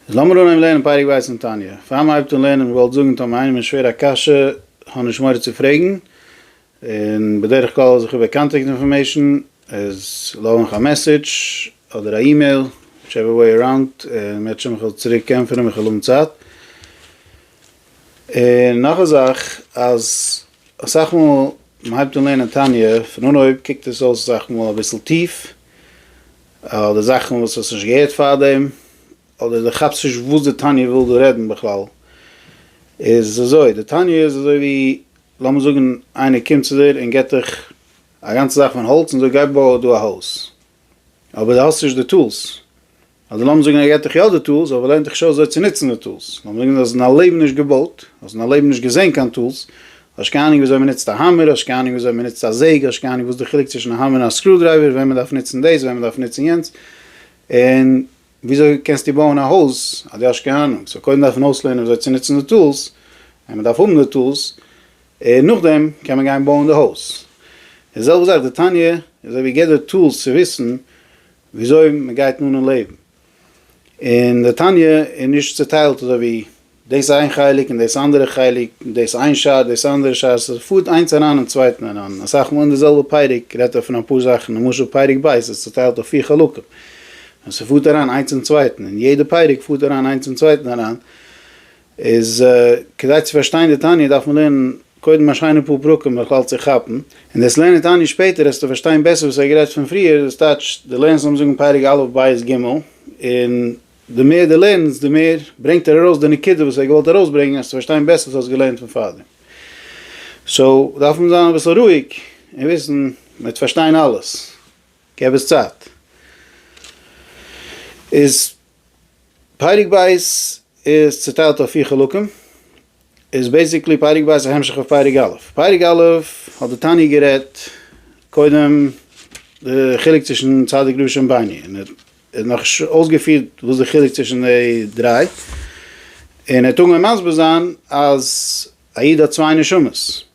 איז לאמיר אנהייבן לערנען פרק ב' אין תניא. פאר מ'הייבט אן לערנען, כ'וואלט זאגן טאמער איינעם איז שווער א קשיא, האב נישט מורא צו פרעגן, און בדרך כלל זיך איבער קאנטעקט אינפארמעישן, איז לאז מיך א מעסעדזש אדער א אימעיל, וויטשעווער וועי אראונד, און מ'וועט שוין מיך צוריק ענטפערן ווען כ'וועל האבן צייט. און נאך א זאך, אז אסאך מאל מ'הייבט אן לערנען תניא, פון אנהויב קוקט עס אויס אסאך מאל אביסל טיף, אדער זאכן וואס האסט נישט געהערט פארדעם, אדער די כאפסט נישט וואס די תניא וויל דא רעדן בכלל, איז אזוי, די תניא איז אזוי ווי לאמיר זאגן איינער קומט צו דיר און געבט דיך א גאנצע זאך פון האלץ און זאגט גיי בוי דא א הויז, אבער די האסט נישט די טולס, אדער לאמיר זאגן ער געבט דיך יא די טולס אבער לערנט דיך נישט אויס אזוי צו נוצן די טולס, לאמיר זאגן די האסט אין דיין לעבן נישט געבויט, האסט אין דיין לעבן נישט געזען קיין טולס, האסט קיין אנונג וויאזוי מ'נוצט א האמער, האסט קיין אנונג וויאזוי מ'נוצט א זעג, האסט קיין אנונג וואס די חילוק צווישן א האמער און א סקרודרייווער, ווען מ'דארף נוצן דאס, ווען מ'דארף נוצן יענץ, און וויאזוי קענסטו בויען א הויז אז דו האסט קיין אנונג, סאו קודם דארף מען אויסלערנען וויאזוי צו נוצן די טולס, ווען מ'דארף האבן די טולס, און נאכדעם קען מען גיין בויען די הויז. די זעלבע זאך די תניא, אזוי ווי געבט דיר טולס צו וויסן וויאזוי מ'גייט אן אין לעבן. און די תניא איז נישט צוטיילט אזוי ווי דאס איין חלק און דאס אנדערע חלק, דאס איין שעה דאס אנדערע שעה, ס'פארט איינס אריין אין צווייטן אריין, אסאך מאל אין די זעלבע פרק רעדט ער פון אפאר זאכן, למשל פרק ב' איז צוטיילט אויף פיר חלקים, און ס'פארט אריין איינס אין צווייטן, און יעדע פרק פארט אריין איינס אין צווייטן אריין, איז כדי צו פארשטיין די תניא דארף מען לערנען קודם א שיינע פאר פרקים בכלל צו כאפן, און דאס לערנען תניא שפעטער העסטו פארשטיין בעסער וואס ער האט גערעדט פון פריער, דאס טייטש די לערנסט לאמיר זאגן פרק א' בית ג', און די מער די לערנסט די מער ברענגט ער ארויס די נקודה וואס ער האט געוואלט ארויסברענגען העסטו פארשטיין בעסער וואס האסט געלערנט פון פארדעם, סאו דארף מען זיין אביסל רואיג און וויסן מען וועט פארשטיין אלעס, געב עס צייט. איז פרק ב' איז צוטיילט אויף פיר חלקים, איז בעיסיקלי פרק ב' א המשך אויף פרק א'. פרק א' האט די תניא גערעדט קודם די חילוק צווישן צדיק רשע און בינוני, און ער האט נאך אויסגעפירט וואס די חילוק צווישן די דריי, און ער האט אנגעהויבן מסביר זיין אז א איד האט צוויי נשמות,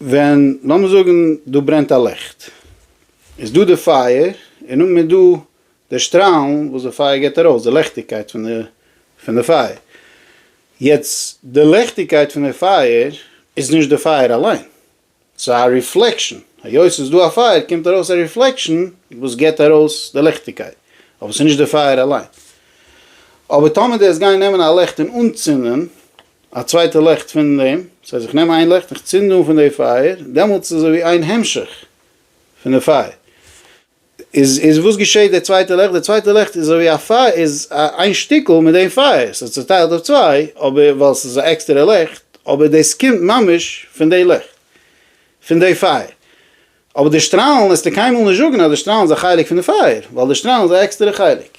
ווען לאמיר זאגן דא ברענט א ליכט, איז דא די פייער, און נאכדעם איז דא די שטראלן וואס די פייער גיבט ארויס, די לעכטיגקייט פון די פון די פייער, יעצט די לעכטיגקייט פון די פייער איז נישט די פייער אליין, ס'איז א ריפלעקשאן, היות ס'איז דא א פייער קומט ארויס א ריפלעקשאן וואס גיבט ארויס די לעכטיגקייט, אבער ס'איז נישט די פייער אליין. אבער טאמער די וועסט גיין נעמען א לעכט און אנצינדן א צווייטע לעכט פון דעם, ס'הייסט איך נעם איין לעכט און איך צינד אן פון די פייער, דעמאלטס איז אזויווי איין המשך פון די פייער. איז איז וואס געשעהט די צווייטע לעכט? די צווייטע לעכט איז אזויווי א פייער איז איין שטיקל מיט דעם פייער, ס'איז צוטיילט אויף צוויי, אבער ווייל ס'איז א עקסטערע לעכט, אבער דאס קומט ממש פון די לעכט פון די פייער. אבער די שטראלן עסטו קיינמאל נישט זאגן אז די שטראלן איז א חלק פון די פייער, ווייל די שטראלן איז א עקסטערע חלק.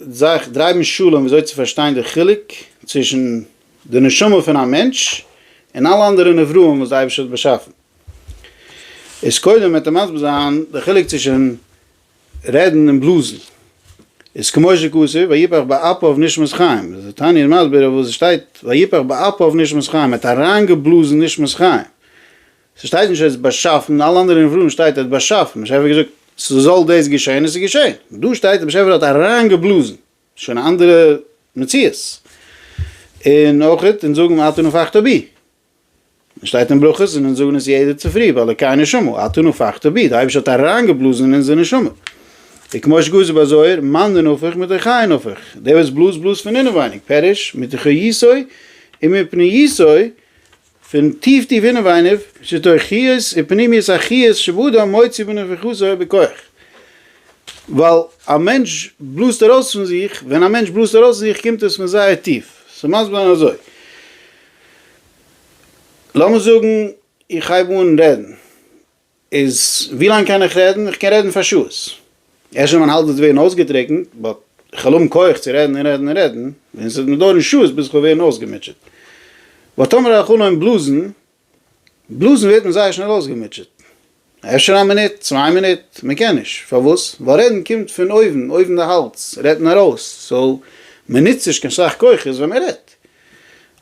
זיך דרייבן שלום וויאזוי צו פארשטיין די חילוק צווישן די נשמה פון א מענטש און אלע אנדערע נבראים וואס די אייבערשטער האט באשאפן, איז קודם וועט ער מסביר זיין די חילוק צווישן רעדן און בלאזן, איז כמו שכתוב ויפח באפיו נשמות חיים, איז די תניא מסביר אויף וואס עס שטייט ויפח באפיו נשמות חיים, ער האט אריינגעבלאזן נשמות חיים. ס'שטייט נישט ער האט עס באשאפן, אלע אנדערע נבראם שטייט ער האט באשאפן, באשעפער האט געזאגט ס'זאל דאס געשען און ס'איז געשען, דא שטייט דער באשעפער האט אריינגעבלאזן, שוין א אנדערע מציאות, און אויך אונז זאגן אתו נפחתה בי, עס שטייט אין ברכות און אונז זאגן עס יעדע צופרי באלוקי נשמה, אתו נפחתה בי, דער אייבערשטער האט אריינגעבלאזן אין אונזער נשמה, וכמו שכתוב ביי זוהר מאן דנפח מתוכי נפח, דער וואס בלאזט בלאזט פון אינעווייניג, פירוש מתוכו יסוד, און מפני יסוד פון טיף טיף אינעווייניו, שטויכיות און פנימיות החיות שבאדם מוציא בנפחותו ובכח. ווייל א מענטש בלאזט ארויס פון זיך, ווען א מענטש בלאזט ארויס פון זיך קומט עס פון זייער טיף. ס'מסביר זיין אזוי. לאמיר זאגן איך הייב אן רעדן. איז ווי לאנג קען איך רעדן? איך קען רעדן פאר שעות. ערשט ווען מיין האלז וועט ווערן אויסגעטריקנט, באט איך וועל האבן כח צו רעדן און רעדן און רעדן, און עס וועט מיר דויערן שעות ביז איך וועל ווערן אויסגעמוטשעט. באט טאמער איך אנהויבן בלאזן, בלאזן ווערט מען זייער שנעל אויסגעמוטשעט. אפשר א מינוט, צוויי מינוט, מען קען נישט. פארוואס? ווייל רעדן קומט פון אויבן, אויבן די האלז, רעדט מען ארויס. סאו, מען נוצט נישט קיין סאך כוחות ווען מען רעדט.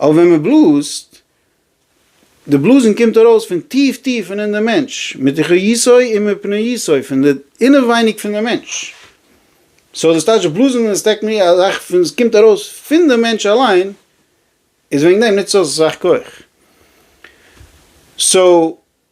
אבער ווען מען בלאזט, די בלאזן קומט ארויס פון טיף טיף פון אין די מענטש, מתוכו יסעו ומפניו יסעו, פון די אינעווייניג פון די מענטש. סאו דאס טייטש בלאזן איז טעקני א זאך פון עס קומט ארויס פון די מענטש אליין, איז וועגן דעם נוצט עס אויס אסאך כח. סאו.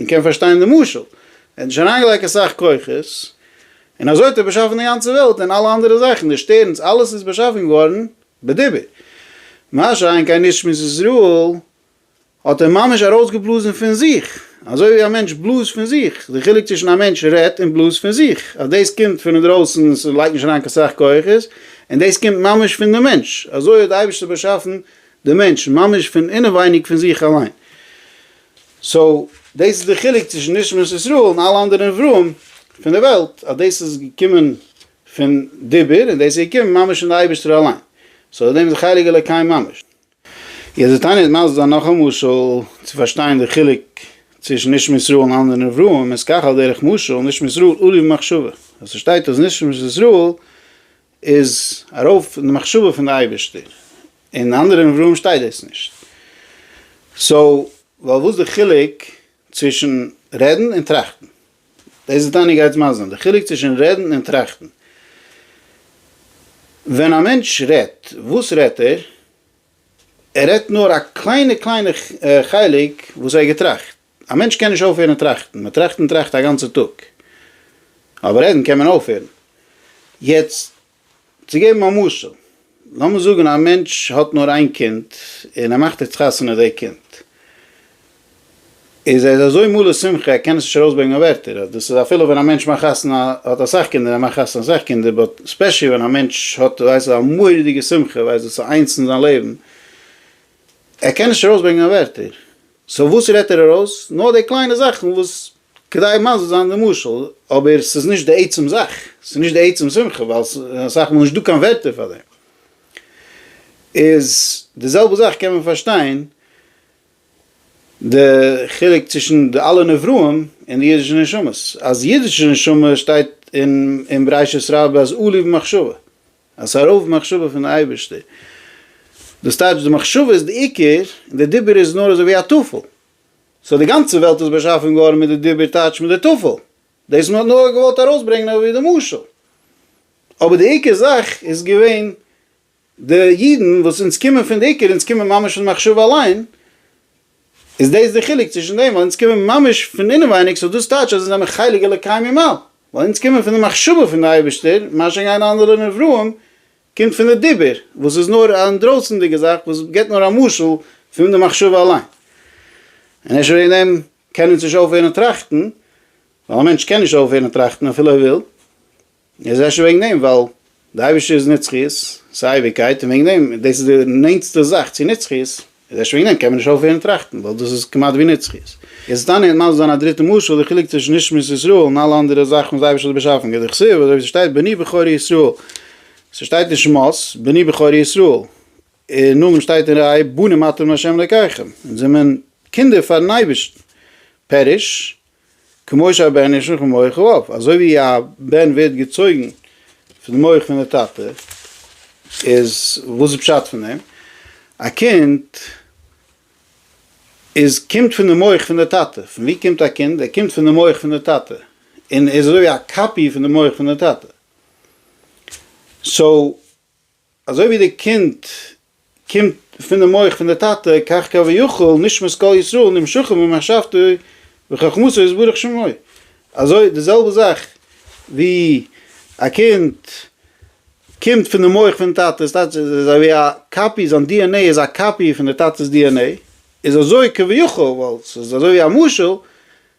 מען קען פארשטיין די משל, ער האט נישט אריינגעלייגט אסאך כוחות, און אזוי האט ער באשאפן די גאנצע וועלט און אלע אנדערע זאכן, די שטערנס, אלעס איז באשאפן געווארן בדיבור. מה שאין קיין איש משמות ישראל, האט ער ממש ארויסגעבלאזן פון זיך, אזוי ווי א מענטש בלאזט פון זיך, די חילוק צווישן א מענטש רעדט און בלאזט פון זיך, אז דאס קומט פון אינדרויסן, עס לייגט נישט אריין קיין סאך כוחות, און דאס קומט ממש פון די מענטש, אזוי האט די אייבערשטער באשאפן די מענטש, ממש פון אינעווייניג פון זיך אליין. סאו דאס איז די חילוק צווישן נשמת ישראל און אלע אנדערע נבראים פון די וועלט אז דאס איז געקומען פון דיבור און דאס איז געקומען ממש פון די אייבערשטער אליין סאו דעם איז חלק אלוקים ממש. יעצט וועט איינער מסביר זיין נאך א משל צו פארשטיין די חילוק צווישן נשמת ישראל און אנדערע נבראים איז כך על דרך משל נשמת ישראל אורי במחשבה אז ס'שטייט אז נשמת ישראל איז ארויף אין די מחשבה פון די אייבערשטער, אין אנדערע נבראים שטייט דאס נישט, סאו ווייל וואס די חילוק צווישן רעדן און טראכטן, דאס איז דייניגע עצם האזן, די חילוק צווישן רעדן און טראכטן, ווען א מענטש רעדט וואס רעדט ער? ער רעדט נאר א קליינע קליינע חלק וואס ער האט געטראכט, א מענטש קען נישט אויפהערן טראכטן, מען טראכט און טראכט א גאנצע טאג, אבער רעדן קען מען אויפהערן. יעצט צו געבן א משל, לאמיר זאגן א מענטש האט נאר איין קינד און ער מאכט יעצט חתונה די קינד, איז ער איז אזוי מלא שמחה ער קען עס נישט ארויסברענגען אויף ווערטער, דאס איז אפילו ווען א מענטש מאכט חתונה האט אסאך קינדער ער מאכט חתונה אסאך קינדער, באט ספעשעלי ווען א מענטש האט ווייסט דו א מורא'דיגע שמחה ווייסט דאס איז איינס אין זיין לעבן, ער קען נישט ארויסברענגען אויף ווערטער. סאו וואס רעדט ער ארויס? נאר די קליינע זאכן וואס כדי מזיז זיין די משל, אבער ס'איז נישט די עצם זאך, ס'איז נישט די עצם שמחה, ווייל ס'איז אסאך מאל נישט דא קיין ווערטער פאר דעם. איז די זעלבע זאך קען מען פארשטיין די חילוק צווישן די אלע נבראים און די אידישע נשמות, אז אידישע נשמה שטייט אין בראשית רבה אז אלי' במחשבה, אז ס'איז א רוב מחשבה פון די אייבערשטער. דאס טייטש די מחשבה איז די עיקר, און די דיבור איז נאר אזוי ווי א טפל. סאו די גאנצע וועלט איז באשאפן געווארן מיט די דיבור טייטש מיט די טפל. דאס מען האט נאר געוואלט ארויסברענגן אזוי ווי די משל. אבער די עיקר זאך איז געווען די אידן וואס אונז קומען פון די עיקר, אונז קומען ממש פון די מחשבה אליין, איז דאס די חילוק צווישן דעם ווייל אונז קומען ממש פון אינעווייניג סאו דאס טייטש אז אונז זעמיר חלק אלוקי ממעל ווייל אונז קומען פון די מחשבה פון די אייבערשטער מה שגיין אנדערע נבראים קומט פון די דיבור וואס איז נאר א אינדרויסענדיגע זאך וואס גיבט נאר א משל פון די מחשבה אליין און אפשר וועגן דעם קען אונז נישט אויפהערן טראכטן ווייל א מענטש קען נישט אויפהערן טראכטן אפילו ער וויל. עס איז אפשר וועגן דעם ווייל די אייבערשטער איז נצחיות, ס'איז אייביגקייט, און וועגן דעם, דאס איז די נענטסטע זאך צו נצחיות, איז אפשר וועגן דעם קען מען נישט אויפהערן טראכטן, ווייל דאס איז כמעט ווי נצחיות. עס איז טענה'ען און מסביר זיין א דריטע משל, די חילוק צווישן נשמת ישראל און אלע אנדערע זאכן וואס די אייבערשטער האט באשאפן, כ ד כסדר, אזוי ווי ס'שטייט בני בכורי ישראל, ס'שטייט אין שמות, בני בכורי ישראל, און נאמען שטייט אין ראה בנים אתם לה' אלקיכם, אונז זעמען קינדער פאר'ן אייבערשטן, פירוש, כמו שהבן נשלח מן מוח האב, אזוי ווי א בן ווערט געצויגן פון די מח פון די טאטע, איז וואס איז פשט פון דעם? א קינד איז קומט פון די מח פון די טאטע, פון וואו קומט א קינד? ער קומט פון די מח פון די טאטע, און ער איז אזוי ווי א קאפי פון די מח פון די טאטע, סאו אזוי ווי די קינד קומט פונעם מח פון די טאטע כך קל ויכול נשמת כל ישראל נמשכים במחשבתו וחכמתו יתברך שמו, אזוי די זעלבע זאך ווי א קינד קומט פונעם מח פון טאטע עס טייטש עס איז אזויווי א קאפי זיין די ען עי איז א קאפי פון די טאטעס די ען עי איז אזוי כביכול ווייל ס'איז אזוי ווי א משל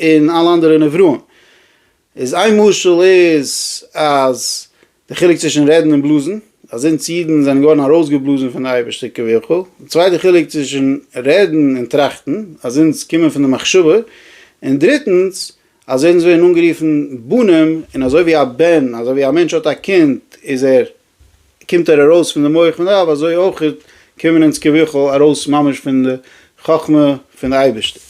און אלע אנדערע נבראים. איז איין משל איז אז די חילוק צווישן רעדן און בלאזן, אז אונז אידן זענען געווארן ארויסגעבלאזן פון די אייבערשטער כביכול, די צווייטע חילוק צווישן רעדן און טראכטן, אז אונז קומען פון די מחשבה, און דריטנס אז אונז ווערן אנגערופן בנים, און אזוי ווי א בן, אזוי ווי א מענטש האט א קינד איז ער קומט ער ארויס פון די מח פון די אב, אזוי אויך קומען אונז כביכול ארויס ממש פון די חכמה פון די אייבערשטער.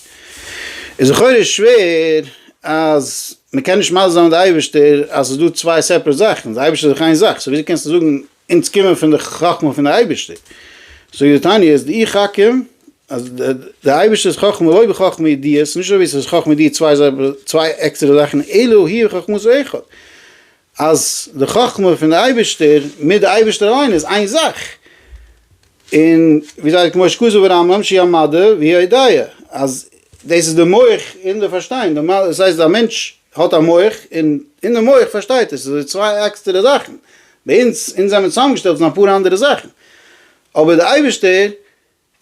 איז לכאורה איז שווער אז מען קען נישט מסביר זיין די אייבערשטער אז ס'איז דא צוויי סעפערעט זאכן, די אייבערשטער איז דאך איין זאך, סאו וויאזוי קענסטו זאגן אונז קומען פון די חכמה פון די אייבערשטער? סאו די תניא איז די איך חכים אז די אייבערשטער'ס חכמה לא בחכמה ידיעה, ס'איז נישט אזויווי ס'איז חכמה ידיעה צוויי עקסטערע זאכן אלא הוא חכמות אחד. אז די חכמה פון די אייבערשטער מיט די אייבערשטער אליין איז איין זאך, און ווי זיי כמו שכזב הרמב ם שיהיה מדע ויהיה הודיה, אז דאס איז די מח און די פארשטיין, דאס הייסט א מענטש האט א מח און אין די מח פארשטייט ער, ס'איז אזוי צוויי עקסטערע זאכן, ביי אונז, אונז זעמיר צוזאמגעשטעלט פון אפאר אנדערע זאכן, אבער די אייבערשטער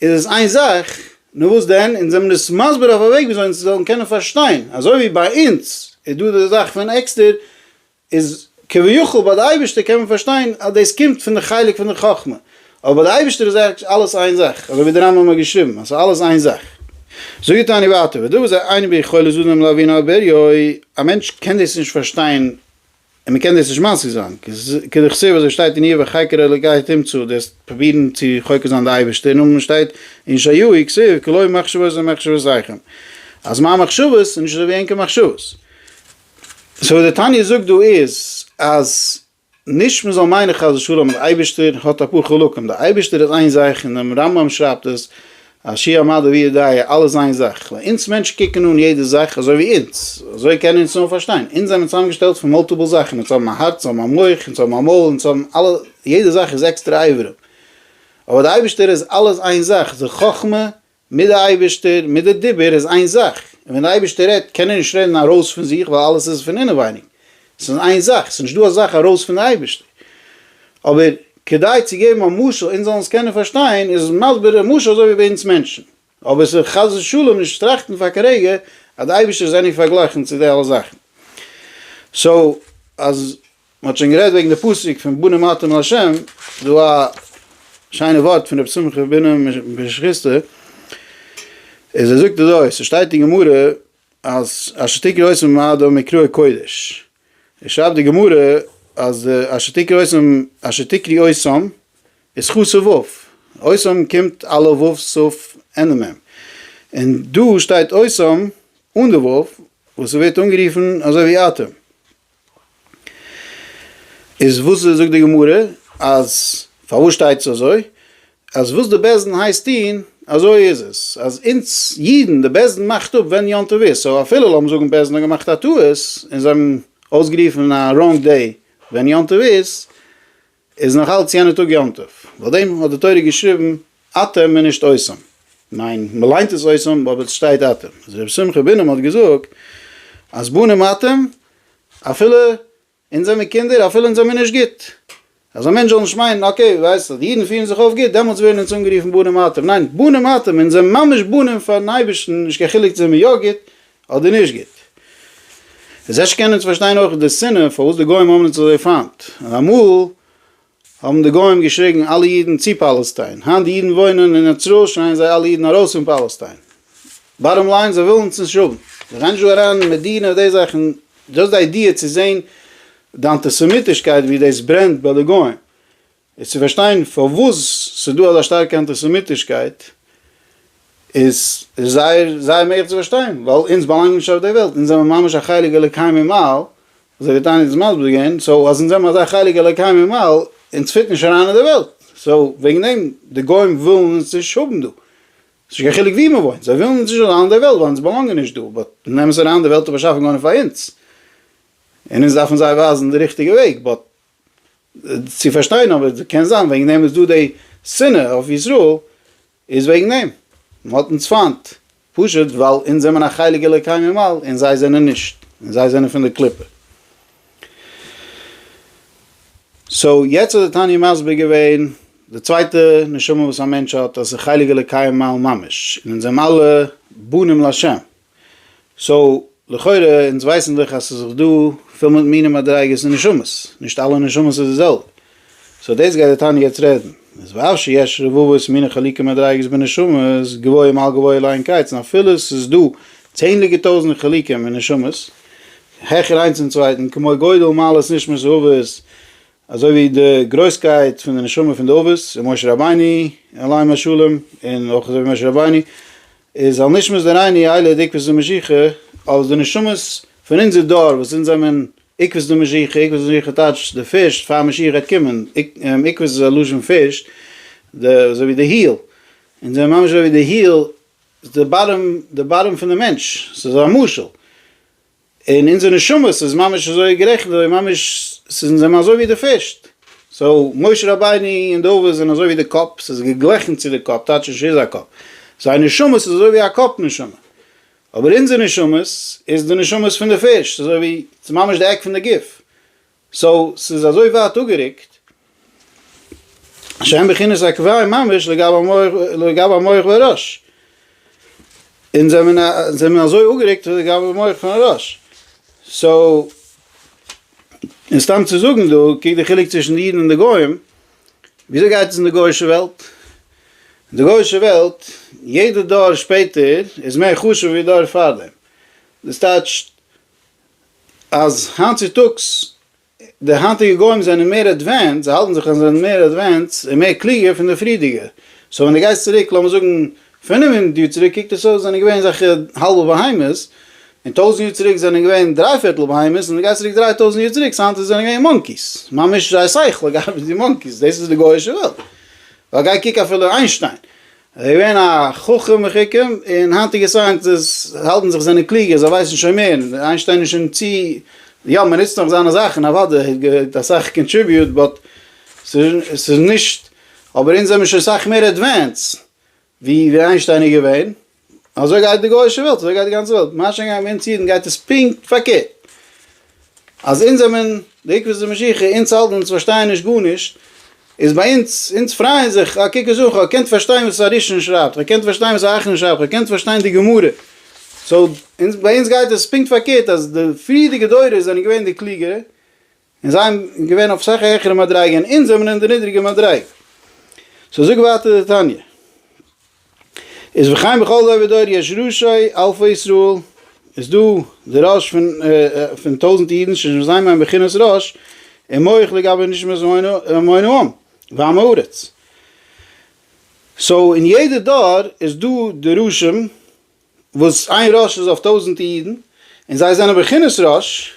איז עס איין זאך, נו וואס דען, אונז זעמיר דאס מסביר אויף א וועג וויאזוי אונז זאלן קענען פארשטיין, אזוי ווי ביי אונז איז דא די זאך פון עקסטער, איז כביכול ביי די אייבערשטער קען מען פארשטיין אז דאס קומט פון די חלק פון די חכמה, אבער ביי די אייבערשטער איז עכט אלעס איין זאך, אזוי ווי די רמב ם האט געשריבן אז עס איז אלעס איין זאך. זאגט די תניא ווייטער, ודבר זה אין ביכולת אדם להבין אבער יוי, א מענטש קען דאס נישט פארשטיין, און מען קען דאס נישט משיג זיין, כדכתיב ווי אזוי שטייט אין איוב החקר אלוקי תמצא, דארפסט פרובירן צו חוקר זיין די אייבערשטער, און מען שטייט אין ישעיהו כסוף כי לא מחשבות הן מחשבות אייכם, אז מיין מחשבות איז נישט אזוי ווי ענקער מחשבות. סאו וואס די תניא זאגט דא איז אז נישט מען זאל מיינען חס ושלום אז די אייבערשטער האט אפאר חלקים, די אייבערשטער איז איין זאך און דעם רמב ם שרייבט עס א שיעור מדע ווי איז דעי אלעס איין זאך? ווייל אונז מענטשן קוקן אן יעדע זאך אזוי ווי אונז, אזוי קענען אונז נאר פארשטיין. אונז זענען צוזאמגעשטעלט פון מאלטיפל זאכן, אונז האבן א הארץ, אונז האבן א מח, אונז האבן א מויל, אונז האבן אלע, יעדע זאך איז עקסטערע אברים. אבער די אייבערשטער איז אלעס איין זאך, די חכמה מיט די אייבערשטער מיט די דיבור איז איין זאך, און ווען די אייבערשטער רעדט קען ער נישט רעדן ארויס פון זיך ווייל אלעס איז פון אינעווייניג, ס'איז איין זאך, ס'איז נישט דא א זאך ארויס פון די אייבערשטער. אבער כדי צו געבן א משל אונז זאלן עס קענען פארשטיין, איז מסביר דער משל אזוי ווי ביי אונז מענטשן. אבער עס איז חס ושלום נישט טראכטן פאר קיין רגע אז די אייבערשטער איז עני פארגלייכן צו די אלע זאכן. סאו אז מ'האט שוין גערעדט וועגן די פסוק פון בנים אתם אל ה', דא א שיינע ווארט פון רבי שמחה בן בן שכיסטא, איז ער זאגט אזוי, ס'שטייט אין גמרא, אז אשת עיקר עושים מאדם מקרא קודש, עס שרייבט די גמרא אז די אשת עיקר עושים אשת עיקרי עושים איז חו סה וו, עושים קומט א ל וו סוף ענ מ, און דא שטייט עושים אן די וו וואס ווערט אנגערופן אזוי ווי אטעם. איז וואס איז זאגט די גמרא אז פארוואס שטייט עס אזוי אז וואס די בעש ט הייסט טוהן אזוי איז עס אז אונז אידן די בעש ט מאכט אפ ווען יום טוב איז סאו אפילו לאמיר זאגן בעש ט האט געמאכט א טעות און זיי האבן אויסגערופן א ראנג דעי ווען יום טוב איז איז נאך אלץ יענע טאג יום טוב, ועל דעם האט די תורה געשריבן אתם און נישט אתם, ניין מען ליינט עס אתם אבער עס שטייט אתם, איז רבי שמחה בונם האט געזאגט אז בנים אתם אפילו אונז זעמיר קינדער אפילו אונז זעמיר נישט גוט, אז א מענטש זאל נישט מיינען אקעי ווייסט אז די אידן פירן זיך אויף גוט דעמאלטס ווערן אונז אנגערופן בנים אתם, ניין בנים אתם אונז זעמיר ממש בנים פארן אייבערשטן נישט קיין חילוק זעמיר יא גוט אדער נישט גוט. איז אפשר קענען אונז פארשטיין אויך די שנאה פארוואס די גוים האבן אונז אזוי פיינט. אמאל האבן די גוים געשריגן אלע אידן צו פאלעסטיין, היינט די אידן וואוינען אין ישראל שרייען זיי אלע אידן ארויס פון פאלעסטיין. באטאם ליין זיי ווילן אונז נישט האבן. זיי גייען נישט דא אריין אין מדינה די זאכן, דזשאסט די איידיע צו זען די אנטיסעמיטישקייט ווי דאס ברענט ביי די גוים. איז צו פארשטיין פארוואס ס'איז דא אזא שטארקע אנטיסעמיטישקייט איז זייער זייער מעגליך צו פארשטיין, ווייל אונז באלאנגן נישט אויף די וועלט, אונז זעמער ממש א חלק אלוקי ממעל, אזוי ווי תענית איז מסביר געווען, סאו אז אונז זעמער אזא חלק אלוקי ממעל, אונז פיט נישט אריין אין די וועלט, סאו וועגן דעם די גוים ווילן אונז נישט האבן דא, ס'איז נישט קיין חילוק ווי מ'וואוינט, זיי ווילן אונז נישט אריין אין די וועלט ווייל אונז באלאנגן נישט דא, באט זיי נעמען עס אריין, די וועלט איז באשאפן געווארן פאר אונז, און אונז דארפן זיי ווייזן די ריכטיגע וועג, באט צו פארשטיין אבער קען זיין וועגן דעם איז דא די שנאה אויף ישראל איז וועגן דעם מען האט אונז פיינט פשוט ווייל אונז זעמען א חלק אלוקי ממעל און זיי זענען נישט און זיי זענען פון די קליפה. סאו יעצט האט די תניא מסביר געווען די צווייטע נשמה וואס א מענטש האט אז ס'איז חלק אלוקי ממעל ממש און אונז זעמען אלע בנים לשם סאו לכאורה אונז ווייסן דאך אז ס'איז דאך דא פיל מיט מינים מדריגות און נשמות, נישט אלע נשמות איז די זעלבע, סאו דאס גייט די תניא יעצט רעדן, איז ואף שיש רבבות מיני חלוקי מדריגות בנשמות גבוה מעל גבוה לאין קץ און אפילו ס'איז דא צענדליגע טויזנט חלקים אין נשמות העכער איינס צום צווייטן כמו גודל מעלות נשמות אבות אזוי ווי די גרויסקייט פון די נשמה פון די אבות און משה רבינו עליהם השלום און אויך אזוי ווי משה רבינו איז זאל נישט מוז דער עיני איילה דעיקבעס די משיכה, אלס די נשמות פון אונזער דור וואס זינט זיי מען עיקבעס די משיכה, עיקבעס די משיכה טייטש די פירשט פאר משיח גייט קומען, עיקבעס איז א לשון פירשט, די אזוי ווי די היל, אונז זענען ממש אזוי ווי די היל, די באטעם, די באטעם פון די מענטש, ס'איז א משל, און אונזער נשמות איז ממש אזוי גערעכנט אזוי ממש ס'איז אונז זעמער אזוי ווי די פיש. סאו משה רבינו און דוד זענען אזוי ווי די קאפ, ס'איז געגליכן צו די קאפ, טייטש נישט ס'איז א קאפ. זייער נשמות איז אזוי ווי א קאפ נשמה. אבער אונזער נשמות איז די נשמות פון די פיש, ס'איז אזוי ווי ס'איז ממש די עק פון די גוף. סאו ס'איז אזוי ווייט אפגערוקט שאין בחינת עקביי ממש לגבי המוח והראש. אונז זעמיר אזוי אפגערוקט לגבי המוח פון הראש. סאו און סתם צו זאגן דא קוק די חילוק צווישן די אידן און די גוים, וויאזוי גייט עס אין די גוישע וועלט? אין די גוישע וועלט יעדע דור שפעטער איז מער חשוב ווי דור פארדעם. דאס טייטשט אז היינט צוטאגס די היינטיגע גוים זענען מער עדווענס, זיי האלטן זיך אז זיי זענען מער עדווענס און מער קלוגער פון די פריערדיגע, סאו ווען די גייסט צוריק לאמיר זאגן פינף הונדערט יאר צוריק קוקט עס אויס זענען געווען אזעלכע האלבע בהמות, און טויזנט יאר צוריק זענען געווען דריי פערטל בהמות, און די גייסט צוריק דריי טויזנט יאר צוריק סאו היינט זענען געווען מאנקיס, ממש זייער שכל האט געארבעט ווי מאנקיס, דאס איז די גויאישע וועלט, ווייל גיי קוק אפילו איינשטיין, ער איז געווען א חכם מחוכם, און היינטיגע סייענטיסטס האלטן זיך זענען קלוגער, זיי ווייסן שוין מער, איינשטיין איז שוין צו, יא מען נוצט נאך זיינע זאכן אוודאי, ער האט געהאט אסאך קאנטריביוט, באט ס'איז נישט, אבער אונז זעמיר שוין סאך מער עדווענס ווי איינשטיין איז געווען, אזוי גייט די גוישע וועלט, אזוי גייט די גאנצע וועלט, מה שאין כן ביי אונז אידן גייט עס פונקט פארקערט. אז אונז זעמען די עקבות די משיחי, אונז האלטן אונז פארשטייען נישט גארנישט, איז ביי אונז, אונז פרייען זיך, אה קוק עס אן, כ'האב געקענט פארשטיין וואס א ראשון שרייבט, כ'האב געקענט פארשטיין וואס א אחרון שרייבט, כ'האב געקענט פארשטיין די גמרא, סאו, אונז, ביי אונז גייט עס פונקט פארקערט, אז די פריערדיגע דורות זענען געווען די קלוגערע, און זיי זענען געווען אויף אסאך א העכערע מדריגה, און אונז זעמען אין די נידריגע מדריגה. סאו זאגט ווייטער די תניא. איז וחיים בכל דור ודור יש ראשי אלפי ישראל, איז דא די ראש פון פון טויזנט אידן שיש בזיין מעין בחינת ראש און מוח לגבי נשמת ומונה העם ועם הארץ, סאו אין יעדע דור איז דא די ראשים וואס איין ראש איז אויף טויזנט אידן און זיי זענען בחינת ראש,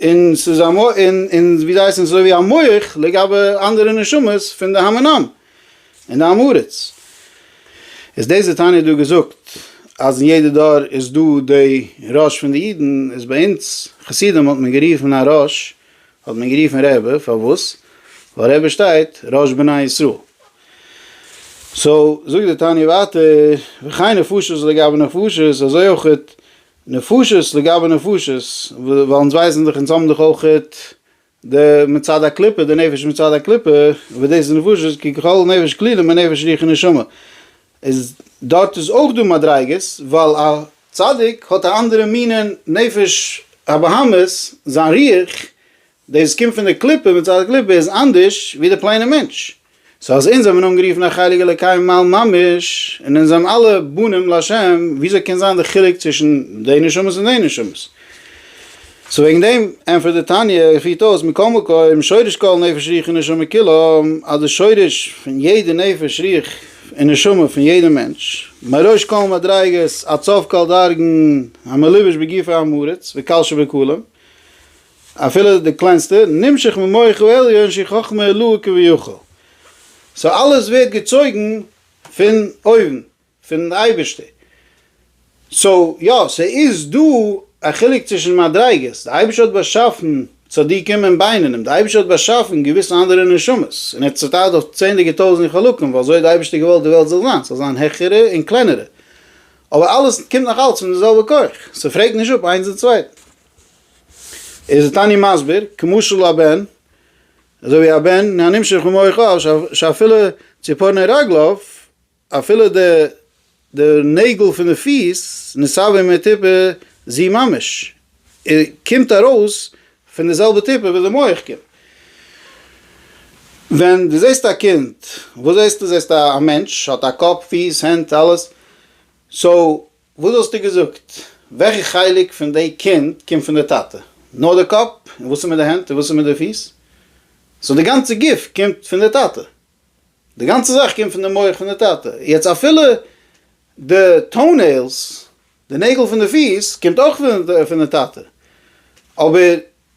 און ס'איז א מ א, און און ווי זיי הייסן, ס'איז אזוי ווי א מח לגבי אנדערע נשמות פון די המון עם און די עם הארץ. איז דאס די תניא דא געזאגט אז אין יעדע דור איז דא די ראש פון די אידן, איז ביי אונז חסידים האט מען גערופן א ראש האט מען גערופן רעבע, פארוואס? ווייל רעבע שטייט ראש בני ישראל. סאו זאגט די תניא ווייטער, וכן נפשות לגבי נפשות, אזוי אויך נפשות לגבי נפשות, ווייל אונז ווייסן דאך אונז האבן דאך אויכעט די מצד הקליפה, די נפש מצד הקליפה, וואס דאס איז נפשות כי ככל נפש כלילים אין נפש רוח און נשמה, איז דארט איז אויך דא מדריגות, ווייל א צדיק האט א אנדערע מינע נפש הבהמית, זיין רוח דאס קומט פון די קליפה, מצד הקליפה איז אנדערש ווי די פלעינע מענטש. סאו אז אונז זעמען אנגערופן א חלק אלוקי מעל ממש, און אונז זעמען אלע בנים לה', וויאזוי קען זיין די חילוק צווישן די נשמות און די נשמות? סאו וועגן דעם ענטפערט די תניא, און פירט אויס, מכל מקום, שורש כל נפש רוח ונשמה כולם, אז די שורש פון יעדע נפש רוח און נשמה פון יעדע מענטש, מראש כל מדריגות עד סוף כל דרגן המלובש בגופי עם הארץ, וקל שבכולם, אפילו די קליינסטע, נמשך ממוח העליון שהיא חכמה עילאה כביכול. סאו אלעס ווערט געצויגן פון אויבן, פון די אייבערשטער. סאו יא, ס'איז דא א חילוק צווישן מדריגות, די אייבערשטער האט באשאפן צדיקים און בינונים, די אייבערשטער האט באשאפן געוויסע אנדערע נשמות, און ער האט צוטיילט אויף צענדליגע טויזנט חלקים ווייל אזוי האט די אייבערשטער געוואלט די וועלט זאל זיין, ס'זאל זיין העכערע און קלענערע. אבער אלעס קומט נאך אלץ פון די זעלבע כח, ס'פרעגט נישט אפ איינס דעם צווייטן. איז ער תני מסביר, כמשל הבן, אזוי ווי א בן הנמשך במוחו שאפילו ציפורני רגליו, אפילו די די נעגל פון די פיס, נסבה מטיפה זו ממש, קומט ארויס פון די זעלבע טיפה וואס די מח קומט. ווען דו זעסט א קינד, וואס זעסטו? זעסט א מענטש, האט א קאפ, פיס, הענט, אלעס, סאו וואס וואלסטו געזאגט? וועלכע חלק פון די קינד קומט פון די טאטע? נאר די קאפ? און וואס איז מיט די הענט? און וואס איז מיט די פיס? סאו די גאנצע גוף קומט פון די טאטע? די גאנצע זאך קומט פון די מח פון די טאטע? יעצט אפילו די טאו נעילס, די נעגל פון די פיס, קומט אויך פון די טאטע, אבער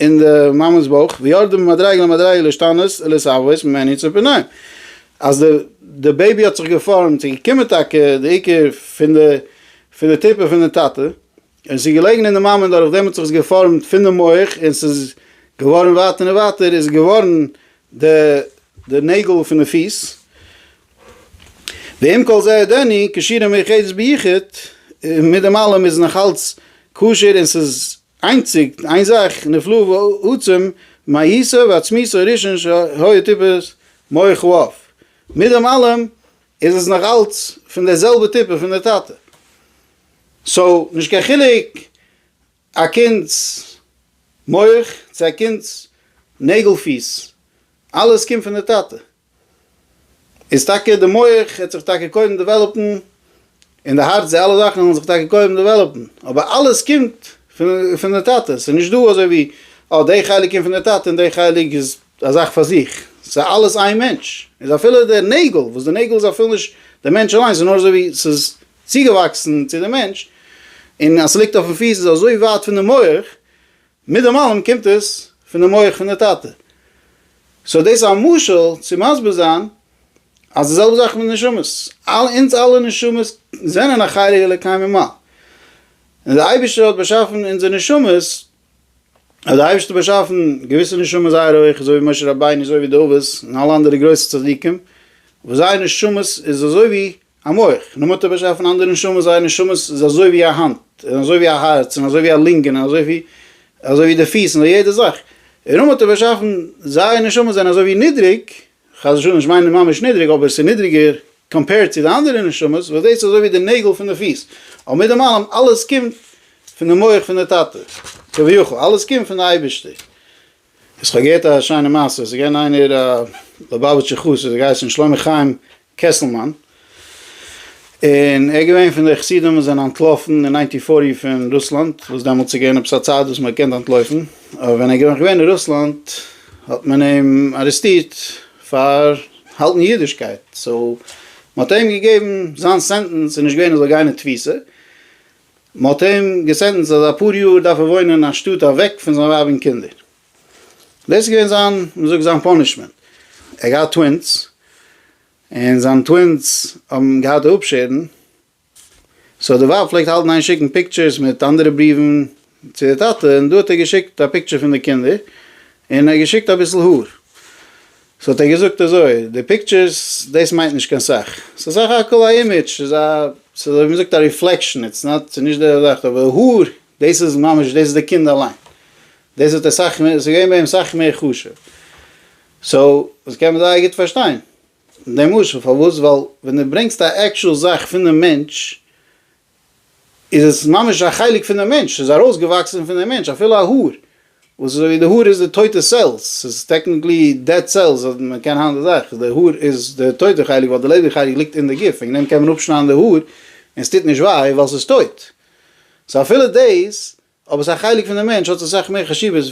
אין די מאמע'ס בויך, ויורדים ממדרגה למדרגה להשתנות ולהתהוות ממענין צו פנויים, אז די די בעיבי האט זיך געפארעמט און געקומען טאקע די עיקר פון די פון די טיפה פון די טאטע, און עס איז געלעגן אין די מאמע און דורכדעם האט זיך עס געפארעמט פון די מח און עס איז געווארן ווייטער און ווייטער איז געווארן די די נעגל פון די פיס, ועם כל זה עודני כשירה מאוחדת ביחוד, און מיט דעם אלעם איז נאך אלץ כשר און עס איז איינציג איין זאך נפלא ועצום מהיותו ועצמיתו הראשון שהיה טיפת מח ו אויף מיט דעם אלעם איז עס נאך אלץ פון די זעלבע טיפה פון די טאטע סאו נישט קיין חילוק א קינד'ס מח צו א קינד'ס נעגל פיס אלעס קומט פון די טאטע. איז טאקע די מח העט זיך טאקע קודם דעוועלאפן, און די הארץ די אלע זאכן וועלן זיך טאקע קודם דעוועלאפן, אבער אלעס קומט פון די טאטע, ס'איז נישט דא אזוי ווי אה די חלק קומט פון די טאטע און די חלק איז א זאך פאר זיך, ס'איז אלעס איין מענטש, איז אפילו די נעגל, וואס די נעגל איז אפילו נישט די מענטש אליינס ס'איז נאר אזוי ווי ס'איז צוגעוואקסן צו די מענטש, און אז ס'ליגט אויפן פיס איז אזוי ווייט פון די מח. מיט דעם אלעם קומט עס פון די מח פון די טאטע. סאו דאס איז א משל צו מסביר זיין אז די זעלבע זאך מיט נשמות. אונז אלע נשמות זענען א חלק אלוקי ממעל. און דער אייבערשטער האט באשאפן אונזער נשמות, האט דער אייבערשטער באשאפן געוויסע נשמות זייער הויך, אזוי ווי משה רבינו, אזוי ווי דוד, און אלע אנדערע גרויסע צדיקים, וואס זייער נשמות איז אזוי ווי א מח, נאר מ'האט אים באשאפן פון אנדערע נשמות, זייער נשמות איז אזוי ווי א האנט, און אזוי ווי א הארץ, און אזוי ווי א לונגען, און אזוי ווי אזוי ווי די פיס, און אזוי יעדע זאך, און נאר מ'האט אים באשאפן, זייער נשמות זענען אזוי ווי נידריג, חס ושלום נישט מיינען ממש נידריג, אבער ס'איז נידריגער קאמפעירד צו די אנדערע נשמות, וואס דאס איז אזוי ווי די נעגל פון די פיס, אבער מיט דעם אלעם, אלעס קומט פון די מח פון די טאטע, כביכול, אלעס קומט פון די אייבערשטער, איך האב געהערט א שיינע מעשה, עס איז געווען איינער א ליובאוויטשער חסיד האט געהייסען שלמה חיים קעסלמאן, און ער איז געווען פון די חסידים וואס זענען אנטלאפן אין ניינטין פארטי פון רוסלאנד, וואס דעמאלטס איז געווען עפעס א צייט וואס מען האט געקענט אנטלויפן, אבער ווען ער איז נאך געווען אין רוסלאנד האט מען אים ארעסטירט פאר האלטן אידישקייט, סאו מען האט אים געגעבן זיין סענטענס איז נישט געווען ער זאל גיין אין תפיסה, מ'האט אים געסענטענסט אז אפאר יאר דארף ער וואוינען אין א שטאט אוועק פון זיין ווייב און קינדער. דאס איז געווען זיין, מ'זאגט, זיין פאנישמענט. ער האט געהאט טווינס, און זיינע טווינס האבן געהאט די אפשערן, סאו די ווייב פלעגט האלטן איין שיקן פיקטשערס מיט אנדערע בריוון צו די טאטע, און דא האט ער געשיקט א פיקטשער פון די קינדער, און ער האט געשיקט אביסל האר. סאו האט ער געזאגט אזוי, די פיקטשערס דאס מיינט נישט קיין סאך, ס'איז סך הכל א אימעדזש, ס'איז א, ס'איז אזוי ווי מ'זאגט א ריפלעקשאן, איטס נאט, ס'איז נישט די זאך, אבער האר, דאס איז ממש, דאס איז די קינד אליין, דאס האט ער סאך מער, ס'איז געווען ביי אים סאך מער חשוב, סאו דאס קען מען זייער גוט פארשטיין די משל, פארוואס? ווייל ווען דו ברענגסט א עקטשועל זאך פונעם מענטש, איז עס ממש א חלק פון די מענטש, ס'איז ארויסגעוואקסן פון די מענטש, אפילו א האר, וואס איז אזויווי די האר איז די טויטע סעלס, ס'איז טעקניקלי דעד סעלס, אז מען קען היינט זאך, די האר איז די טויטע חלק, ווייל די לעבעדיגע חלק ליגט אין די גוף, וועגן דעם קען מען אפשניידן די האר און ס'טוט נישט וויי, ווייל ס'איז טויט. סאו אפילו דאס, אויב עס איז א חלק פון די מענטש, האט עס אסאך מער חשיבות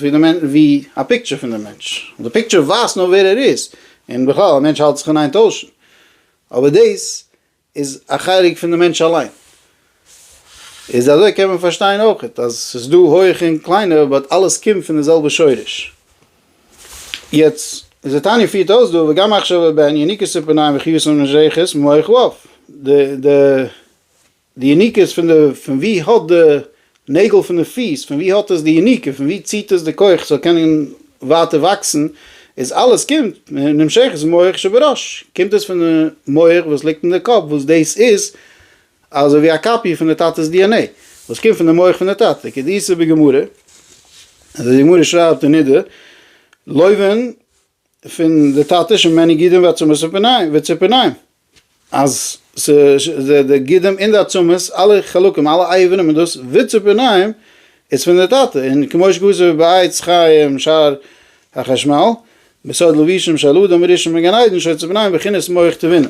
ווי א פיקטשער פון די מענטש, די פיקטשער ווייזט נאר ווער ער איז, און בכלל, א מענטש האלט זיך אין איין טוישן, אבער דאס איז א חלק פון די מענטש אליין. איז אזוי קען מען פארשטיין אויך אז ס'איז דא הויעכע און קליינע באט אלעס קומט פון די זעלבע שורש. יעצט איז די תניא פירט אויס דא וגם מחשבה ובין יניקות של פניים וחיוס און משייכות מח ו. די יניקות פון די פון ווי האט די נעגל פון די פיס, פון ווי האט עס די יניקה, פון ווי ציט עס די כח ס'זאל קענען ווייטער וואקסן, איז אלעס קומט מנמשכת מח שבראש, קומט עס פון די מח וואס ליגט אין די קאפ, וואס דאס איז אזוי ווי א קאפיע פון די טאטע'ס די ען עי, וואס קומט פון די מח פון די טאטע, כדאיסור בגמרא, אזוי ווי די גמרא שרייבט אין נדה, לויבען פון די טאטעס שוין מעני גידים ועצמות וציפורניים, אז די גידים און די עצמות אלע חלקים אלע אייבענעם און דאס וציפורניים איז פון די טאטע, און כמו שכתוב בעץ חיים שער החשמל בסוד לבישם של אדם הראשון בגן עדן שעות ציפורניים בחינת מח תבונה,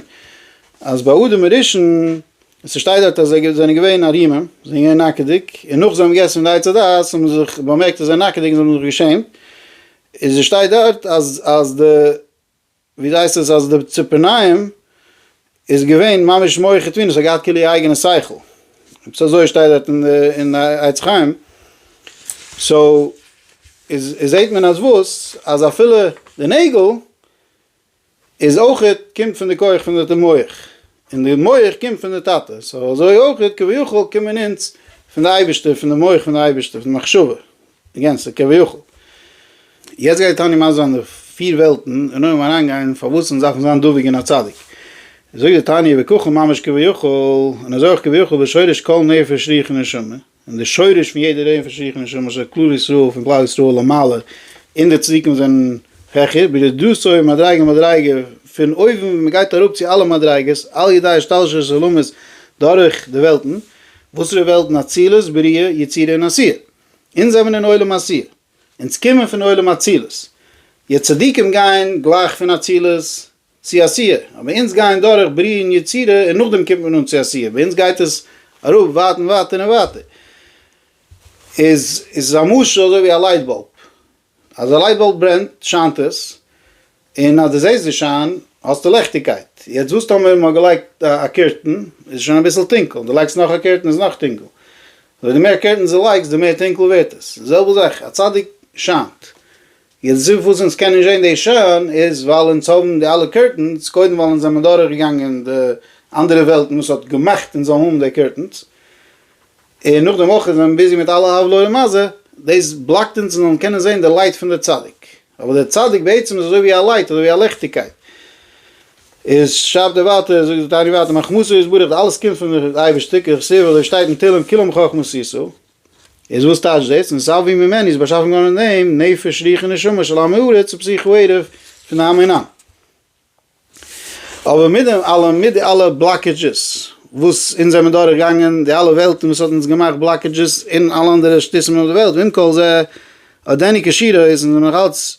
אז ביי אדם הראשון ס'שטייט דארט אז זיי זענען געווען ערימים זענען געווען נאקעדיג און נאך זיי האבן געגעסן פון די עץ הדעת האבן זיי זיך באמערקט אז זיי זענען נאקעדיג און זיי האבן זיך געשעמט איז עס שטייט דארט אז אז די ווי זייסט עס אז די ציפערניים איז געווען ממש מוחי טבין עס האט געהאט כאילו איר אייגענע שכל עפעס אזוי שטייט דארט אין די אין די עץ חיים סאו איז זעהט מען אז וואס אז אפילו די נעגל איז אויכעט קומט פון די כח פון די ת מח, און די מח קומט פון די טאטע, סאו אזוי אויכעט כביכול קומען אונז פון די אייבערשטער, פון די מח פון די אייבערשטער, פון די מחשבה גענצליך כביכול. יעצט גייט תניא מסביר זיין די פיר וועלטן, און אויך אריינגיין פארוואס אונז דארפן זיין דבוק אין א צדיק. זאגט די תניא, וככה ממש כביכול, און אזוי אויך כביכול בשורש כל נפש רוח ונשמה, און די שורש פון יעדע רעי פון שיח'ן און שמש של כלל ישראל פון כלל ישראל למעלה און די צדיקים זענען העכער ברדות אויף מדריגה מדריגה פון אויבן מען גייט אראפ צו אלע מדריגות על ידי השתלשלות עולמות דורך די וועלטן, וואסערע וועלטן אצילות בריאה יצירה און עשייה, אונז זעמער אין עולם עשייה, אונז קומען פון עולם אצילות, יעצט צדיקים גייען גלייך פון אצילות צו א סיעה, אבער אונז גייען דורך בריאה און יצירה און נאכדעם קומט מען אן צו א סיעה, ביי אונז גייט עס אראפ ווייט און ווייטער און ווייטער, איז איז א משל אזוי ווי א לייט באלב, אז א לייט באלב ברענט שיינט עס, און אז דו זעסט די שיין האסטו לעכטיגקייט, יעצט וואס טאמער מען האט געלייגט א קורטען, איז שוין אביסל טונקל, און דו לייגסט נאך א קורטען איז נאך טונקל, אזוי די מער קורטענס דו לייגסט די מער טונקל ווערט עס, די זעלבע זאך, א צדיק שיינט, יעצט זיף וואס אונז קענען זשען דעי שעה'ן איז ווייל אונז האבן די אלע קורטענס קודם ווייל אונז זעמער דורך געגאנגען די אנדערע וועלטן וואס האט געמאכט אונז זאלן האבן די קורטענס און נאכדעם אויך איז מען ביזי מיט אלע עוולה ומזל דאס בלאקט אונז און זאלן קענען זען די לייט פון די צדיק אבער די צדיק בעצם איז אזוי ווי א לייט אזוי ווי א לעכטיגקייט איז שרייבט ער ווייטער זאגט די תניא ווייטער מחכמתו יתברך די אלעס קומט פון די אייבערשטער ככסוף אזוי שטייט אין תהלים כולם חכמות ישא. איז וואס טייטש דאס? און סא ווי ממני איז באשאפן געווארן אין דעם נפש רוח און נשמה של עם הארץ ופסיכו-עירוב פון די עם און עם. אבער מיט דעם אלעם, מיט די אלע בלאקעדזשעס וואס אונז זעמער דורך געגאנגען, די אלע וועלטן וואס האט אונז געמאכט בלאקעדזשעס און אלע אנדערע שטותים אויף די וועלט, ועם כל זה, אט דעניקע שירה איז אונז נאך אלץ,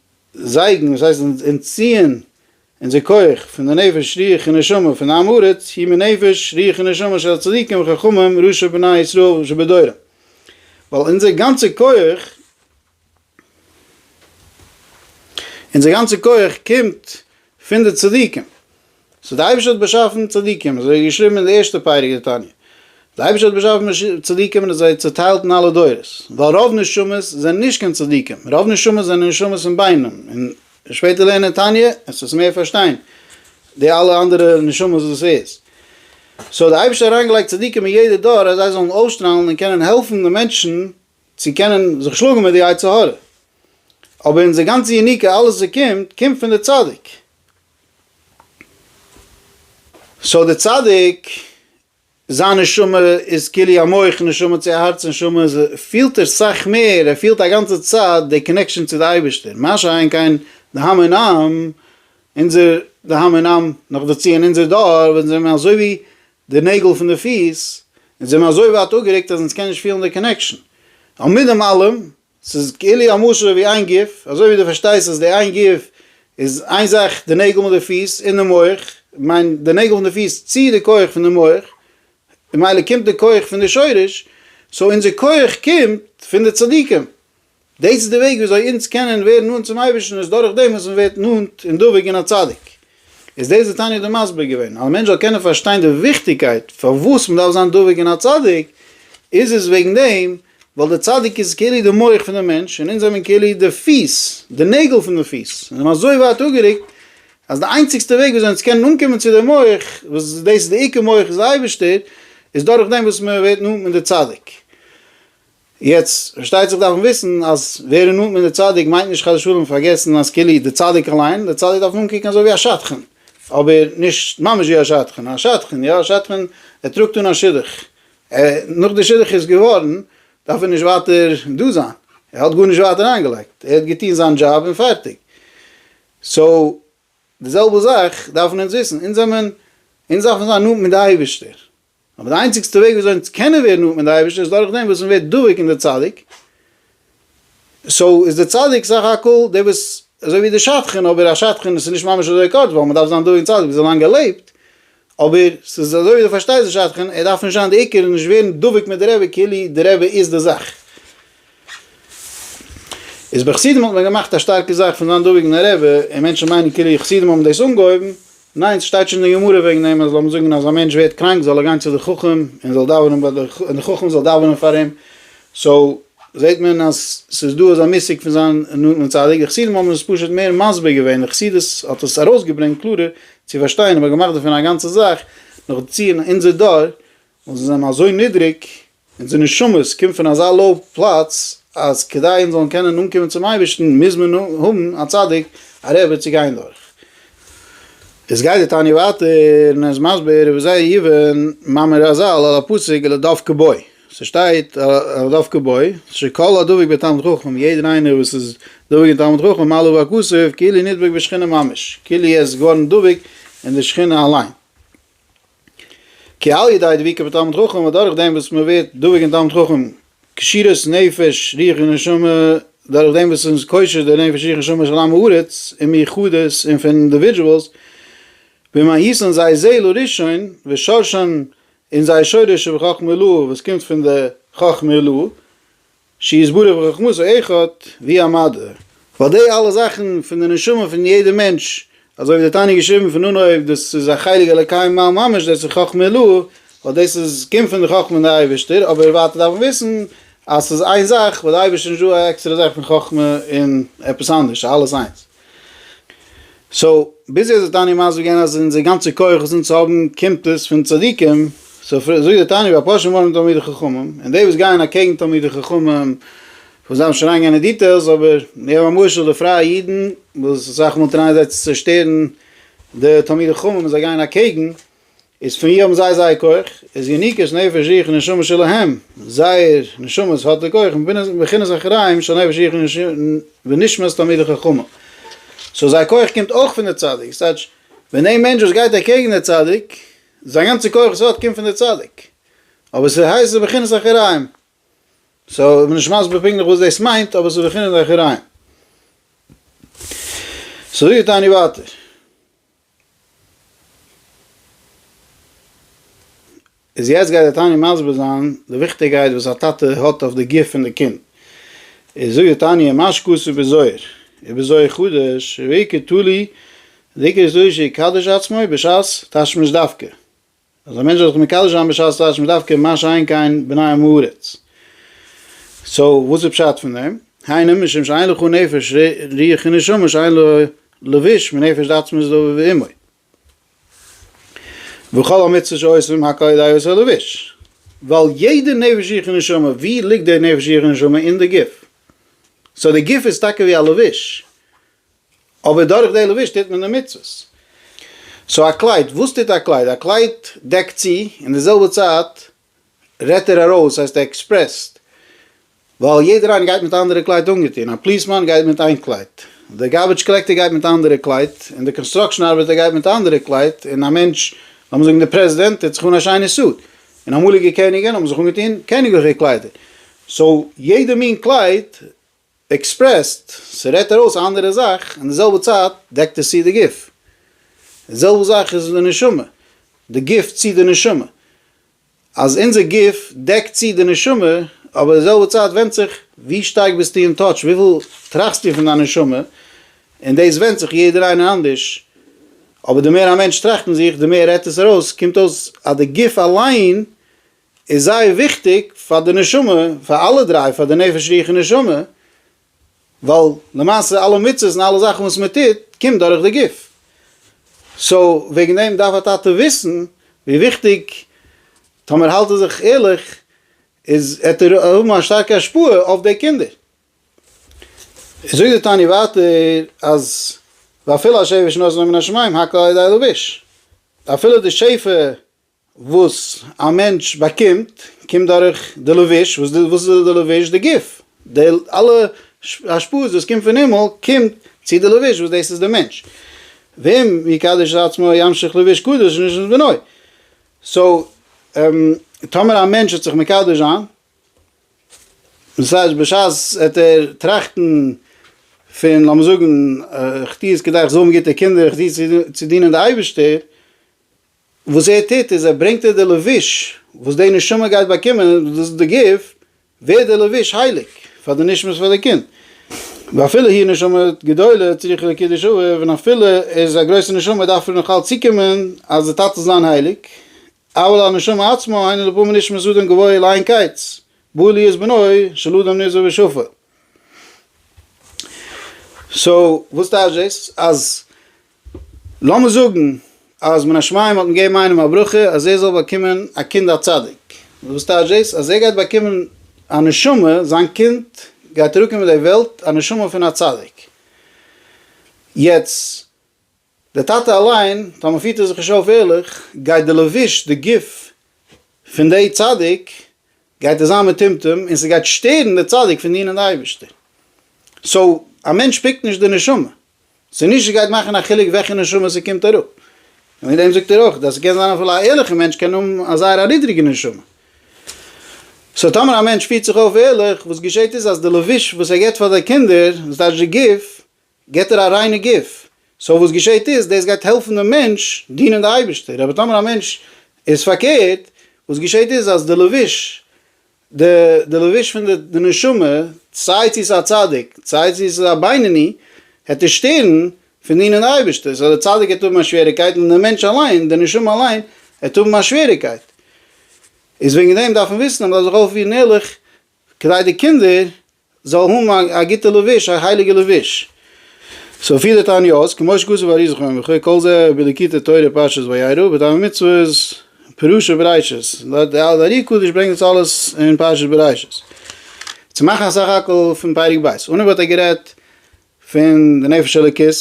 זייגן, וואס הייסט אנטציען אונזער כח פון די נפש רוח און נשמה פון די עם הארץ, היא מנפש רוח ונשמה של הצדיקים וחכמים ראשי בני ישראל שבדורם, ווייל אונזער גאנצע כח, אונזער גאנצע כח קומט פון די צדיקים. סאו די אייבישטער האט באשאפן צדיקים אזוי ווי געשריבן אין די ערשטע פרק די תניא די אייבישטער האט באשאפן צדיקים און זיי צוטיילט אין אלע דורות ווייל רוב נשמות זענען נישט קיין צדיקים רוב נשמות זענען נשמות אין בינם און וועסט שפעטער לערנען אין תניא וועסט עס מער פארשטיין די אלע אנדערע נשמות וואס דאס איז סאו האט די אייבישטער אריין געלייגט צדיקים אין יעדע דור אז זיי זאלן אויסשטראלן און קענען העלפן די מענטשן צו קענען זיך שלאגן מיט די יצר הרע אבער אונזער גאנצע יניקה אלעס וואס קומט קומט פון די צדיק סאו דער צדיק זיין נשמה איז כולי המוח נשמה צו הארץ נשמה איז פילט ער סאך מער ער פילט א גאנצע צייט די קאנעקשאן צו די אייבערשטער מה שאין כן די המון עם אונזער די המון עם נאך דערצו אין אונזער דור ווען זענען מיר אזוי ווי די נעגל פון די פיס אונז זענען אזוי ווייט אפגערוקט אז אונז קען נישט פילן די קאנעקשאן און מיט דעם אלעם ס'איז כאילו א משל ווי איין גוף, אזוי ווי דו פארשטייסט אז די איין גוף איז איין זאך די נעגל מיט די פיס און די מח, איך מיין די נעגל פון די פיס ציעט די כח פון די מח, ממילא קומט די כח פון די שורש, סאו אונזער כח קומט פון די צדיקים, דאס איז די וועג וויאזוי אונז קענען ווערן נאנט צום אייבערשטן איז דורכדעם וואס מ'ווערט נאנט און דבוק אין א צדיק. איז דאס די תניא דא מסביר געווען, אז א מענטש זאל קענען פארשטיין די וויכטיגקייט פארוואס מען דארף זיין דבוק אין א צדיק, איז עס וועגן דעם ווייל די צדיק איז כאילו די מח פון די מענטש און אונז זעמיר כאילו די פיס, די נעגל פון די פיס, און אים אזוי ווייט אפגערוקט אז די איינציגסטע וועג וויאזוי אונז קענען אנקומען צו די מח, וואס דאס איז די עיקר מח איז די אייבערשטער, איז דורכדעם וואס מען ווערט נאנט מיט די צדיק. יעצט פארשטייט זיך דארף מען וויסן אז ווערן נאנט מיט די צדיק מיינט נישט חס ושלום פארגעסן אז כאילו די צדיק אליין, די צדיק דארף מען אנקוקן אזוי ווי א שדכן, אבער נישט ממש ווי א שדכן, א שדכן יא, א שדכן ער טראגט אן א שידוך, ער נאך די שידוך איז געווארן דארף ער נישט ווייטער דא זיין, ער האט גארנישט ווייטער איינגעלייגט, ער האט געטון זיין דזשאב און פארטיג, סאו די זעלבע זאך דארפן אונז וויסן, אונז זעמען, אונז דארפן זיין נאנט מיט די אייבערשטער, אבער די איינציגסטע וועג וויאזוי אונז קענען ווערן נאנט מיט די אייבערשטער איז דורכדעם וואס מען ווערט דבוק אין די צדיק, סאו איז די צדיק סך הכל דער וואס אזוי ווי די שדכן, אבער א שדכן איז נישט ממש אזוי קורץ ווייל מען דארף זיין דבוק אין צדיק ביז א לאנגע לעבט, אבער ס'איז אזוי ווי די פארשטייסט די שדכן, ער דארף נישט זיין די עיקר און נישט ווערן דבוק מיט די רבי כאילו די רבי איז די זאך. איז ביי חסידים האט מען געמאכט א שטארקע זאך פון זיין דאוועגן א רעבע, און מענטשן מיינען כאילו חסידים האבן דאס אנגעהויבן, ניין ס'שטייט שוין אין גמרא וועגן דעם אז לאמיר זאגן אז א מענטש ווערט קראנק זאל ער גיין צו די חכם און זאל דאווענען ביי די און די חכם זאל דאווענען פאר אים, סאו זעט מען אז ס'איז דא אזא מושג פון זיין נאנטן צדיק, די חסידים האבן עס פשוט מער מסביר געווען, די חסידות האט עס ארויסגעברענגט קלארער צו פארשטיין אבער געמאכט דערפון א גאנצע זאך, נאכדערצו אין אונזער דור וואס זיי זענען אזוי נידריג. אונזער נשמות קומט פון אזא לאו פלאץ אז כדי אונז זאלן קענען אנקומען צום אייבערשטן מוז מען האבן א צדיק א רבי צו גיין דורך. איז גייט די תניא ווייטער און ער איז מסביר ווי זייער יבן מאמר רזל על הפסוק אלא דבקה בו, ס'שטייט אלא דבקה בו, שכל הדבוק בתלמיד חכם, יעדער איינער וואס איז דבוק אין תלמיד חכם מעלה ועל כסף כאילו נדבק בשכינה ממש, כאילו ער איז געווארן דבוק אין די שכינה אליין. כי על ידי דביקה בתלמיד חכם און דורך דעם וואס מען ווערט דבוק אין תלמיד חכם קשירות נפש רוח און נשמה דורך דעם וואס אונז קושר די נפש רוח נשמה של עם הארץ און מיחדות און פון אינדיווידזשועלס במאיסן זייער זעהל הראשון ושורשן און זייער שורש שבחכמה אלוה וואס קומט פון די חכמה אלוה שיתברך בחכמתו אחד ווי א מדה, ווייל די אלע זאכן פון די נשמה פון יעדע מענטש, אזוי ווי דער תניא געשריבן פון אנהויב דאס איז א חלק אלוקי ממעל ממש דאס איז חכמה עילאה, ווייל דאס איז קומט פון די חכמה פון די אייבערשטער, אבער ווייטער דארף מען וויסן אז ס'איז איין זאך, ביי די אייבערשטער איז נישטא א עקסטערע זאך פון חכמה און עפעס אנדערש, ס'איז אלעס איינס. סאו ביז יעצט האט די תניא מסביר געווען אז אונזער גאנצע כח וואס אונז האבן קומט עס פון צדיקים, סאו זאגט די תניא והפושעים אוהבים תלמידי חכמים, און די וואס גייען אקעגן תלמידי חכמים, וואס דארף מען שוין אריינגיין אין דיטעילס, אבער מיר האבן א משל די פרייע אידן וואס אסאך מאל טרייען זיי צו צושטערן די תלמידי חכמים און זיי גייען אקעגן, איז פון ווי האבן זיי זייער כח? איז יניקות נפש יחיד און נשמה שלהם, זייער נשמות האט די כח מבחינת אחראים של נפש יחיד ונשמת תלמידי חכמים, סאו זייער כח קומט אויך פון די צדיק, ס'טייטש ווען דער מענטש וואס גייט אקעגן די צדיק, זיין גאנצע כח וואס ער האט קומט פון די צדיק, אבער ס'הייסט ס'איז בחינת אחראים, סאו כ'בין נישט מסביר פונקטליך וואס דאס מיינט, אבער ס'איז בחינת אחראים. סאו ווי טענה'ן ווייטער? איז יעצט גייט די תניא מסביר זיין די וויכטיגקייט וואס א טאטע האט אויף די גוף פון די קינד, איז זאגט די תניא מה שכתוב בזוהר ובזוהר חדש ועיקר תלוי דעיקר זוהר שיקדש עצמו בשעת תשמיש דווקא, אז א מענטש זאל זיך מקדש זיין בשעת טייטש מען דווקא מה שאין כן בני עם הארץ. סאו וואס איז פשט פון דעם? היינו משום שאין לך נפש רוח ונשמה שאין לו לבוש מנפש דעצמות דאביו ואמו. וכל המצוות שעושים הק' אודאי עושה לבוש. ווייל יעדע נפש רוח ונשמה ווי ליגט די נפש רוח ונשמה? אין די גוף. סאו די גוף איז טאקע ווי א לבוש. אבער דורך די לבוש טוט מען די מצוות. סאו א קלייד, וואס טוט א קלייד? א קלייד דעקט צו, אין די זעלבע צייט רעדט ער ארויס, ס'הייסט ער עקספרעסט, ווייל יעדער איינער גייט מיט אנדערע קלייד אנגעטון, א פליסמאן גייט מיט איין קלייד, דער גארבידזש קאלעקטער גייט מיט אנדערע קלייד, און דער קאנסטראקשען ארבעטער גייט מיט אנדערע קלייד, און א מענטש, לאמיר זאגן דער פרעזידענט, טוט זיך אן א שיינע סוט, און אמאליגע קעניגען האבן זיך אנגעטון קעניגליכע קליידער, סאו יעדע מין קלייד עקספרעסט, ס'רעדט ארויס א אנדערע זאך, אין די זעלבע צייט דעקט עס צו די גוף. די זעלבע זאך איז אין די נשמה, די גוף צו די נשמה. אז אונזער גוף דעקט צו די נשמה, אבער די זעלבע צייט ווענדט זיך ווי שטארק ביסטו אין טאטש, וויפיל טראכסטו פון דיין נשמה, און דאס ווענדט זיך יעדער איינער אנדערש, אבער די מער א מענטש טראכט אין זיך, די מער רעדט עס ארויס, קומט אויס אז די גוף אליין איז זייער וויכטיג פאר די נשמה, פאר אלע דריי, פאר די נפש רוח און נשמה, ווייל למעשה אלע מצוות און אלע זאכן וואס מען טוט קומט דורך די גוף, סאו וועגן דעם דארף א טאטע וויסן ווי וויכטיג, טאמער האלט ער זיך ערליך, איז עט ער האבן א שטארקע השפעה אויף די קינדער. זאגט די תניא ווייטער אז ואפילו השפע שנתן לו מן השמים הק' על ידי הלבוש, אפילו די שפע וואס א מענטש באקומט קומט דורך די לבוש, וואס די וואס איז די לבוש? די גוף, די אלע השפעות וואס קומט פון הימל קומט צו די לבוש וואס דאס איז די מענטש, ואם יקדש את עצמו ימשיך לבוש קדוש נישט אין בנוי, סאו טאמער א מענטש וועט זיך מקדש זיין, דאס הייסט בשעת וועט ער טראכטן פון לאמיר זאגן איך טו עס כדי איך זאל האבן גוטע קינדער, איך טו עס צו דינען די אייבערשטער, וואס ער טוט איז ער ברענגט אויף די לבוש וואס די נשמה גייט באקומען, דאס איז די גוף, ווערט די לבוש הייליג פאר די נשמת פאר די קינד, ואפילו היא נשמה גדולה צריכה לקידוש אב, און אפילו ער איז א גרויסע נשמה דארף ער נאך אלץ צוקומען אז די טאטע זאלן זיין הייליג, אבל הנשמה עצמה היינו לפעמים נשמת אדם גבוהה לאין קץ, בא להיות בנו של אדם נזהר ושפל. סאו וואס טייטש דאס אז לאמיר זאגן אז מן השמים האט מען געגעבן איינעם א ברכה אז ער זאל באקומען א קינד א צדיק, וואס טייטש דאס? אז ער גייט באקומען א נשמה, זיין קינד גייט אראפקומען אין די וועלט א נשמה פון א צדיק, יעצט די טאטע אליין, טאמער פירט ער זיך נישט אויף ערליך, גייט די לבוש, די גוף, פון די צדיק גייט ער זיין מטומטם און ס'גייט שטערן די צדיק פון דינען די אייבערשטער, סאו א מענטש פיקט נישט די נשמה, ס'איז נישט ס'גייט מאכן א חילוק וועלכע נשמה ס'קומט אראפ. און מיט דעם זאגט ער אויך אז ס'קען זיין אפילו א ערליכע מענטש קען האבן א זייער א נידריגע נשמה. סאו טאמער א מענטש פירט זיך אויף ערליך, וואס געשעט איז אז די לבוש וואס ער געט פאר זיי קינדער, וואס טייטש די גוף, געט ער א ריינע גוף. סאו וואס געשעט איז, דאס גייט העלפן דעם מענטש דינען די אייבערשטער. אבער טאמער א מענטש איז פארקערט, וואס געשעט איז אז די לבוש די לבוש פון די נשמה, סיי צו איז א צדיק, סיי צו איז עס א בינוני, העט ער שטערן פון דינען די אייבערשטער, סאו די צדיק העט האבן א שוועריקייט און די מענטש אליין, די נשמה אליין, העט האבן א שוועריקייט. איז וועגן דעם דארף מען וויסן אז מ'דארף זיך אויפפירן ערליך, כדי די קינדער זאל האבן א גוטע לבוש, א הייליגע לבוש. סאו פילע תעניות, כמו שכתוב באריז זכור יום וכו', כל זה בליקוטי תורה פרשת וירא, בטעמי מצוות פירושא בראשית, די ארי קדוש ברענגט דאס אלעס אין פרשת בראשית, צו מאכן א סך הכל פון פרק ב', און אויב האט ער גערעדט פון די נפש אלוקית,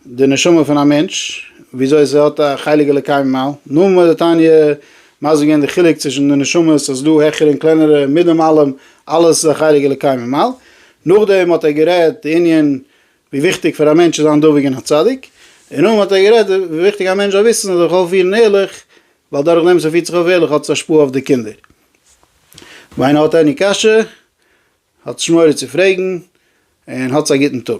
די נשמה פון א מענטש, וויאזוי עס האט א חלק אלוקי ממעל, נאמען מיר די תניא מסביר געווען די חילוק צווישן די נשמות אז ס'איז דא העכערע און קלענערע, מיטדעם אלעם אלעס איז א חלק אלוקי ממעל, נאכדעם האט ער גערעדט די ענין ווי וויכטיג פאר א מענטש צו זיין דבוק אין א צדיק, און נאכדעם האט ער גערעדט ווי וויכטיג א מענטש זאל וויסן ער זאל זיך אויפפירן ערליך, ווייל דורך דעם וואס ער פירט זיך אויף ערליך האט עס השפעה אויף די קינדער. ווען האט עני קשיא? האטס מורא צו פרעגן, און האטס א גוטן טאג.